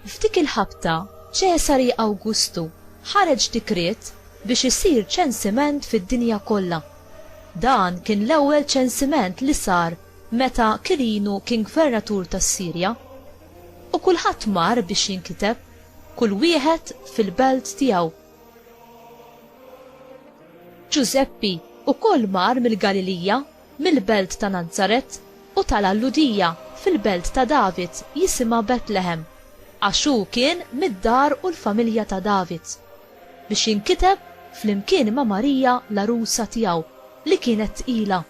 F'dik il-ħabta, Ċesari Awgustu ħareġ dikriet biex isir ċensiment fid-dinja kollha. Dan kien l-ewwel ċensiment li sar meta Kirinu kien gvernatur tas-Sirja. U kulħadd mar biex jinkiteb. Kull wieħed fil-belt tiegħu. Ġużeppi wkoll mar mill-Galilija, mill-belt ta' Nazaret, u tala' l-Lhudija, fil-belt ta' David, jisimha Betlehem, għax hu kien mid-dar u l-familja ta' David, biex jinkiteb flimkien ma' Marija l-għarusa tiegħu, li kienet tqila.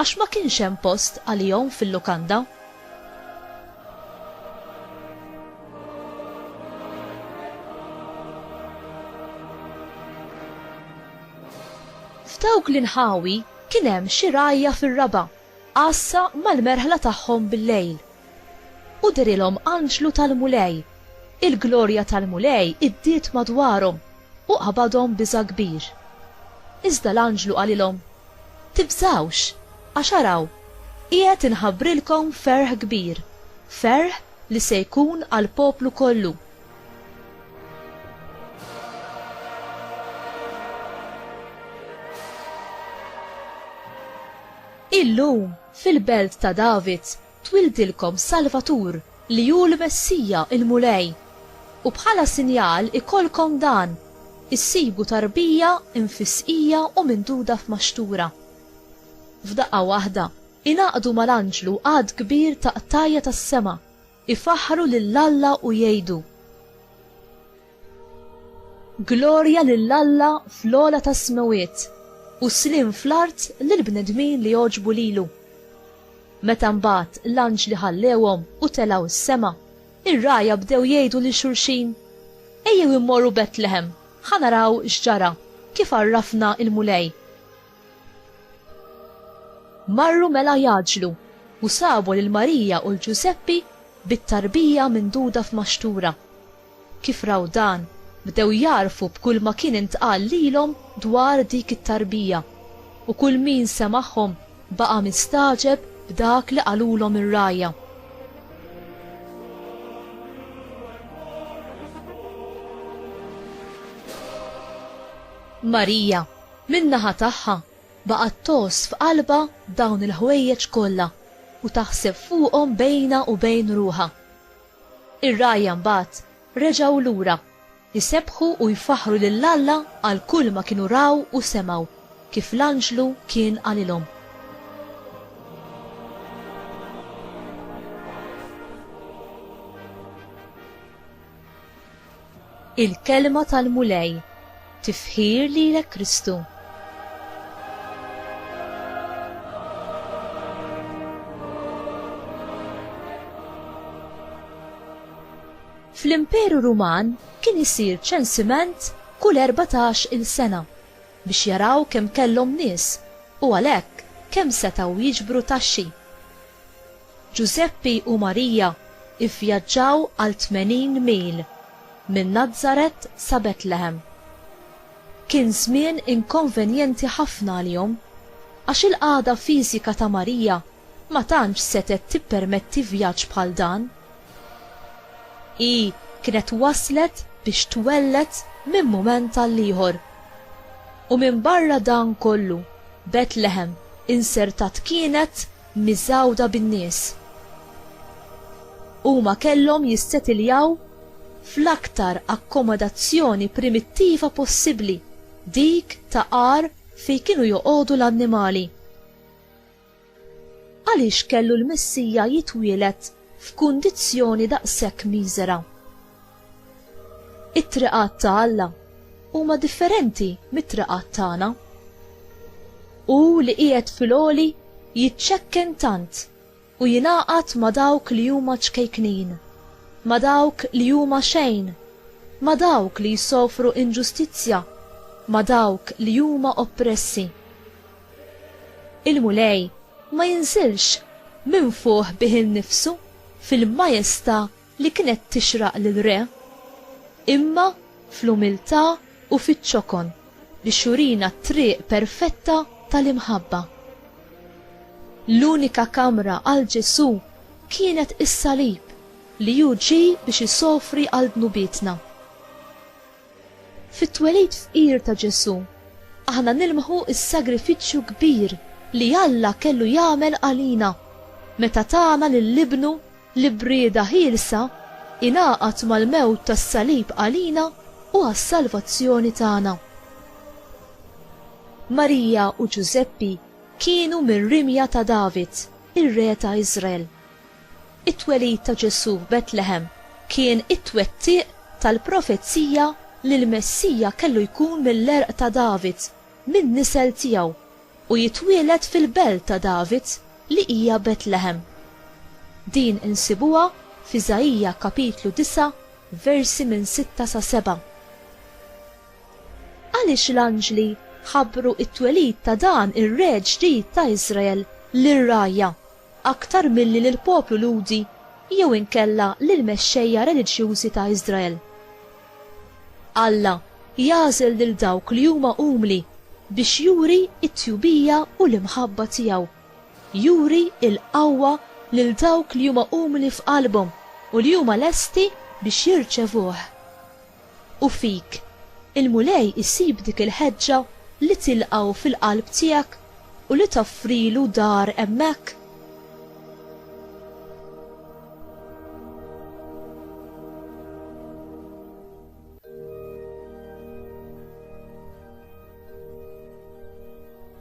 Għax ma kienx hemm post għalihom fil-lukanda. F'dawk l-inħawi kien hemm xi rgħajja fir-raba' għassa mal-merħla tagħhom bil-lejl. U derilhom anġlu tal-Mulej, il-glorja tal-Mulej iddiet madwarhom u qabadhom biża' kbir. Iżda l-anġlu qalilhom, Tibżgħux, għax araw, qiegħed inħabbrilkom ferħ kbir, ferħ li se jkun għall-poplu kollu. Illum, fil-belt ta' David, Twildilkom Salvatur, li hu l-Messija, il-Mulej. U bħala sinjal ikollkom dan, issibu tarbija mfissqija u minduda f'maxtura. F'daqqa waħda, ingħaqdu mal-anġlu għadd kbir ta' qtajja tas-sema, ifaħħru lil Alla u jgħidu, Glorja lil Alla fl-ogħla tas-smewwiet, u sliem fl-art lill-bnedmin li jogħġbu lilu. Meta mbagħad l-anġli ħallewhom u telgħu s-sema, ir-rgħajja bdew jgħidu lil xulxin, Ejjew immorru Betlehem, ħa naraw x'ġara, kif għarrafna l-Mulej. Marru mela jgħaġġlu, u sabu lil Marija u 'l Ġużeppi bit-tarbija minduda f'maxtura. Kif raw dan, bdew jagħrfu b'kulma kien intqal lilhom dwar dik it-tarbija, u kull min semagħhom baqa' mistagħġeb b'dak li qalulhom ir-rgħajja. Marija, min-naħa tagħha, baqgħet tgħożż f'qalbha dawn il-ħwejjeġ kollha u taħseb fuqhom bejnha u bejn ruħha. Ir-rgħajja mbagħad reġgħu lura, jsebbħu u jfaħħru lil Alla għal kull ma kienu raw u semgħu, kif l-anġlu kien qalilhom. Il-Kelma tal-Mulej, Tifħir lilek Kristu. Fl-Imperu Ruman kien isir ċensiment kull erbatax il sena biex jaraw kemm kellhom nies u għalhekk kemm setgħu jiġbru taxxi. Ġużeppi u Marija ivvjaġġaw għal tmenin mil minn Nazaret sa Betlehem. Kien żmien inkonvenjenti ħafna għalihom, għax il-qagħda fiżika ta' Marija ma tantx setgħet tippermetti vjaġġ bħal dan. Hi kienet waslet biex twelled minn mument għall-ieħor. U minbarra dan kollu, Betlehem insertat kienet miżgħuda bin-nies. Huma kellhom jissetiljaw fl-aktar akkomodazzjoni primittiva possibbli, dik ta' għar fejn kienu joqogħdu l-annimali. Għaliex kellu l-Messija jitwieled f'kundizzjoni daqshekk miżera? It-triqat ta' Alla huma differenti mit-triqat tagħna. Hu li qiegħed fil-għoli jiċċekken tant u jingħaqad ma' dawk li huma ċkejknin, ma' dawk li huma xejn, ma' dawk li jsofru inġustizzja, ma' dawk li huma oppressi. Il-Mulej ma jinżilx minn fuq bih innifsu fil-majesta' li kienet tixraq lill-Re, imma fl-umiltà u fiċ-ċokon biex jurina t-triq perfetta tal-imħabba. L-unika kamra għal Ġesù kienet is-salib li hu ġie biex isofri għal dnubietna. Fit-twelid fqir ta' Ġesù, aħna nilmħu s-sagrifiċċju kbir li Alla kellu jagħmel għalina meta tana lil Ibnu L-ibrieda ħielsa ingħaqad mal-mewt tas-salib għalina u għas-salvazzjoni tagħna. Marija u Ġużeppi kienu mir-rimja ta' David, ir-re ta' Iżrael. It-twelid ta' Ġesù f'Betlehem kien it-twettiq tal-profezija li l-Messija kellu jkun mill-għerq ta' David, min-nisel tiegħu, U jitwieled fil-belt ta' David li hija Betlehem. Din insibuha f'Iżaija kapitlu disa' versi minn sitta sa seba'. Għaliex l-anġli ħabbru t-twelid ta' dan ir-Re ġdid ta' Iżrael lir-rgħajja? aktar milli lill-poplu Lhudi jew inkella lill-mexxejja reliġjużi ta' Iżrael. Alla jagħżel lil dawk li huma umli biex juri t-tjubija u l-imħabba tiegħu, juri l-qawwa lil dawk li huma umli f'qalbhom u li huma lesti biex jirċevuh. U fik, il-Mulej isib dik il-ħeġġa li tilqgħu fil-qalb tiegħek u li toffrilu dar hemmhekk?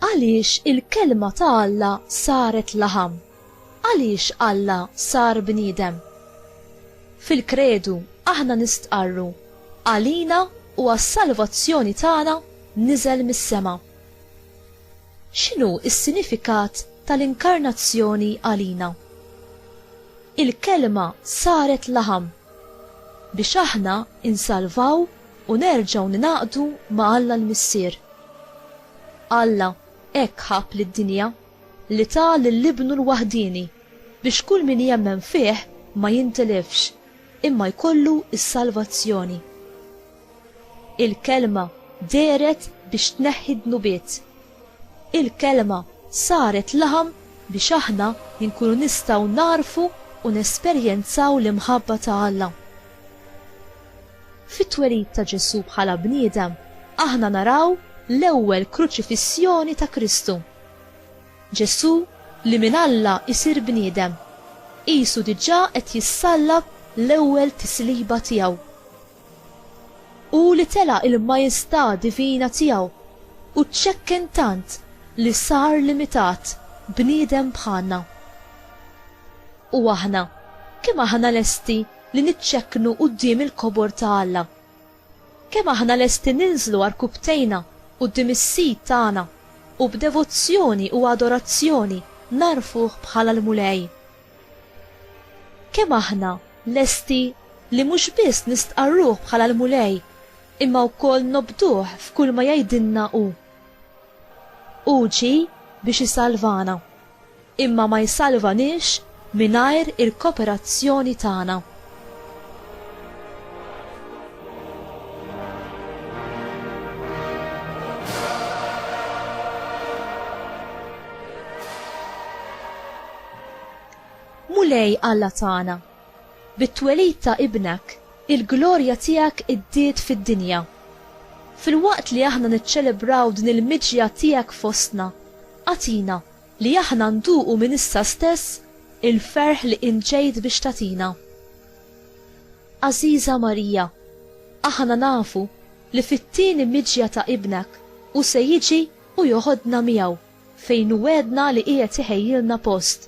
Għaliex il-Kelma ta' Alla saret laħam? Għaliex Alla sar bniedem? Fil-Kredu aħna nistqarru, Għalina u għas-salvazzjoni tagħna niżel mis-sema. X'inhu s-sinifikat tal-inkarnazzjoni għalina? Il-Kelma saret laħam biex aħna insalvaw u nerġgħu ningħaqdu ma' Alla l-Missier. Alla hekk ħabb lid-dinja. li ta lil Ibnu l-waħdieni, biex kull min jemmen fih ma jintilifx, imma jkollu s-salvazzjoni. Il-Kelma dehret biex tneħħi d-dnubiet. Il-Kelma saret laħam biex aħna nkunu nistgħu nagħrfu u nesperjenzaw l-imħabba ta' Alla. Fit-twelid ta' Ġesù bħala bniedem, aħna naraw l-ewwel kruċifissjoni ta' Kristu. Ġesù li minn Alla jsir bniedem, qisu diġà qed jissallab l-ewwel tisliba tiegħu. Hu li tela' il-majestà divina tiegħu u ċċekken tant li sar limitat, bniedem bħalna. U aħna, kemm aħna lesti li niċċekknu quddiem il-kobor ta' Alla? Kemm aħna lesti ninżlu għarkupptejna quddiem is-Sid tagħna u b'devozzjoni u adorazzjoni ngħarrfuh bħala l-Mulej? Kemm aħna lesti li mhux biss nistqarruh bħala l-Mulej imma wkoll nobduh f'kulma jgħidilna hu? Hu ġie biex isalvana. imma ma jsalvaniex mingħajr il-koperazzjoni tagħna. Mulej Alla tagħna, Bit-twelid ta' Ibnek, il-glorja tiegħek iddiet fid-dinja. Filwaqt li aħna niċċelebraw din il-miġja tiegħek fostna, agħtina li aħna nduqu minn issa stess il-ferħ li int ġejt biex tagħtina. Għażiża Marija, aħna nafu li fit-tieni miġja ta' Ibnek hu se jiġi u joħodna miegħu fejn hu wegħedna li qiegħed iħejjilna post.